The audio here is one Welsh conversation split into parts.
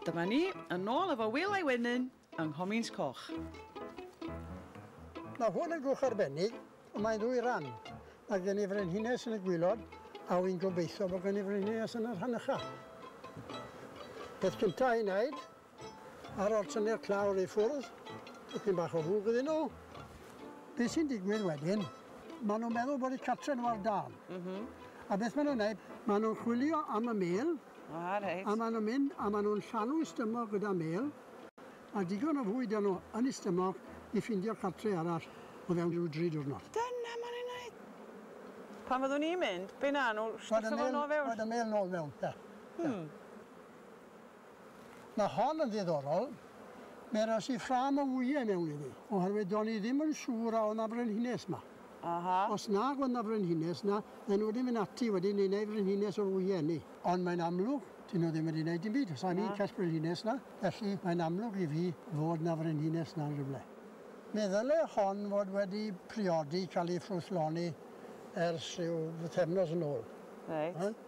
Dyma ni, yn ôl efo Wil a'i wenyn yng Nghomins Coch. Mae hwn yn gwch arbennig, ond mae'n ddwy ran. Mae gen i frenhines yn y gwilod, a wy'n gobeithio bod gen i frenhines yn y rhan ycha. Peth cyntaf i wneud Ar ôl tynnu'r clawr i ffwrdd, tipyn bach o fwg iddyn nhw. Beth sy'n digwydd wedyn, maen nhw'n meddwl bod eu cartre' nhw ar dân. A beth maen nhw'n wneud, maen nhw'n chwilio am y mêl, a maen nhw'n mynd a maen nhw'n llanw y stumog gyda mêl, a digon o fwyd 'da nhw yn y stumog i ffindio cartre' arall o fewn rhyw dri diwrnod. Dyna maen nhw'n wneud! Pan fyddwn ni'n mynd, be wnawn nhw, stwffio fo nôl fewn? Rhoed y mêl nôl mewn, ie. Mae hon yn ddiddorol. Mae ras i ffrâm o wyau mewn iddi, oherwydd do'n i ddim yn siŵr a oedd 'na frenhines 'ma. Aha. Os nag oedd 'na frenhines 'na, fydden nhw wedi mynd ati wedyn i wneud frenhines o'r wyau 'ny. Ond mae'n amlwg, 'dyn nhw ddim wedi wneud dim byd. Sa ni'n cell brenhines 'na, felly mae'n amlwg i fi fod 'na frenhines 'na yn rywle. Mi ddyle hon fod wedi priodi, cael ei ffrwythloni ers rhyw bythefnos yn ôl. Reit.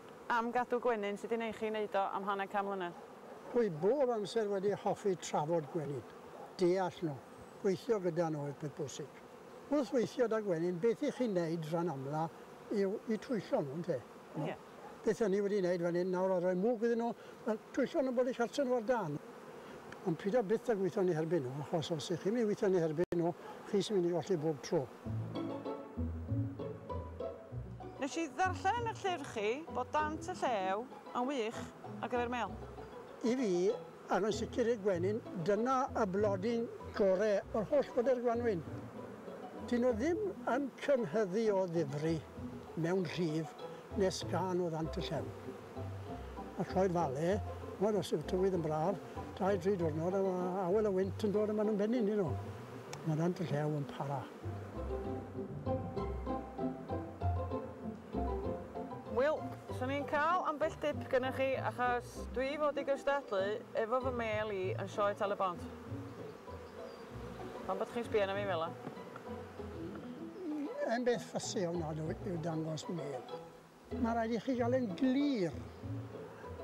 Am gadw gwenyn, sut i neu chi wneud o am hanner can mlynedd. Dwi bob amser wedi hoffi trafod gwenyn, deall nhw, gweithio gyda nhw yw peth bwysig. Wrth weithio 'da gwenyn, beth i chi'n neud ran amla yw i twyllo nhw, ynte? Ie. Beth o'n i wedi neud fan hyn nawr a roi mwg iddyn nhw, wel, twyllo nhw bod eu cartre nhw ar dân. Ond pido byth a gwitho yn eu herbyn nhw, achos os 'ych chi'n mynd i witho yn eu herbyn nhw, chi sy'n mynd i golli bob tro. Nes i ddarllen yn yr llyfr chi bod Dant y Llew yn wych ar gyfer mêl. I fi, ac yn sicr i'r gwenyn, dyna y blodyn gore o'r holl fodern gwanwyn. Dyn nhw ddim yn cynhyddu o ddifri mewn rhif nes gân o Ddant y Llew. a cloi fale, ch'mod os yw'r tywydd yn braf, dau dri diwrnod a ma' awel y wynt yn dod a ma' nhw'n bennu yndyn nhw. Ma' Nant y Llew yn para. Wel, 'swn i'n cael ambell dip gynnoch chi achos dwi fod i gystadlu efo fy mêl i yn Sioe Tal-y-bont. Pam bod chi'n sbio arna fi fela? Dim beth ffussy ofnadw yw dangos mêl. Mae rhaid i chi gael e'n glir,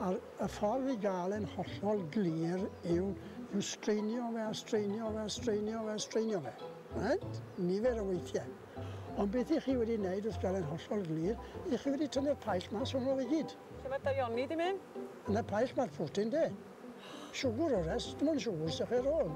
a'r y ffordd i gael e'n hollol glir yw, yw straenio fe a straenio fe a straenio fe a straenio fe. Right? Nifer o weithiau. Ond beth i chi wedi wneud wrth gael e'n hollol glir, i chi wedi tynnu'r paill mas o'n ôl i gyd. Lle mae'r daioni di mynd? Yn y paill mae'r protein de. Siwgr o rest, dim ond siwgr sy'ch ar ôl.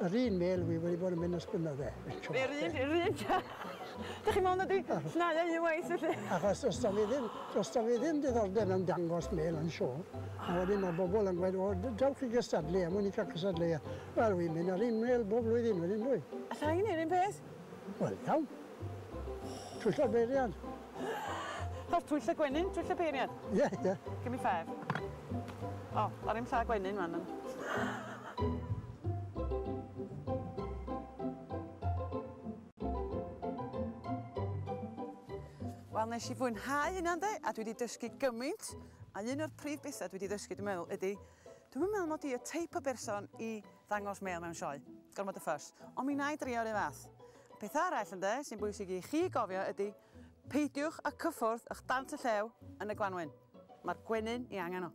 Yr un mêl wi wedi bod yn mynd ys gwnna fe. Yr un, yr un. Dych chi'n meddwl na di snau a un waith felly? Achos os da fi ddim, os da fi ddim diddordeb mewn dangos mêl yn siôl, a wedyn mae bobl yn gweud, o, dewch i gystadlu, a mwyn i cael cystadleuaeth. Wel, wi'n mynd ar un mêl bob blwyddyn wedyn, dwi. Alla i wneud yr un peth? Wel, iawn. Twyll a beiriant. Fatha'r twyll a gwenyn, twyll a peiriant? Ie, ie. Give me five. O, ar i'm llaw gwenyn fan hyn. Wel, nes i fwynhau hynna, de, a dwi wedi dysgu gymaint, a un o'r prif bethau dwi wedi dysgu, dwi'n meddwl, ydy, dwi'm yn meddwl mod i y teip o berson i Ddangos mêl mewn sioe. Gormod o ffys. Ond mi wna i drio'r un fath. Peth arall, ynde, sy'n bwysig i chi gofio ydy, peidiwch â cyffwrdd ych dant y llew yn y gwanwyn. Mae'r gwenyn i angen o.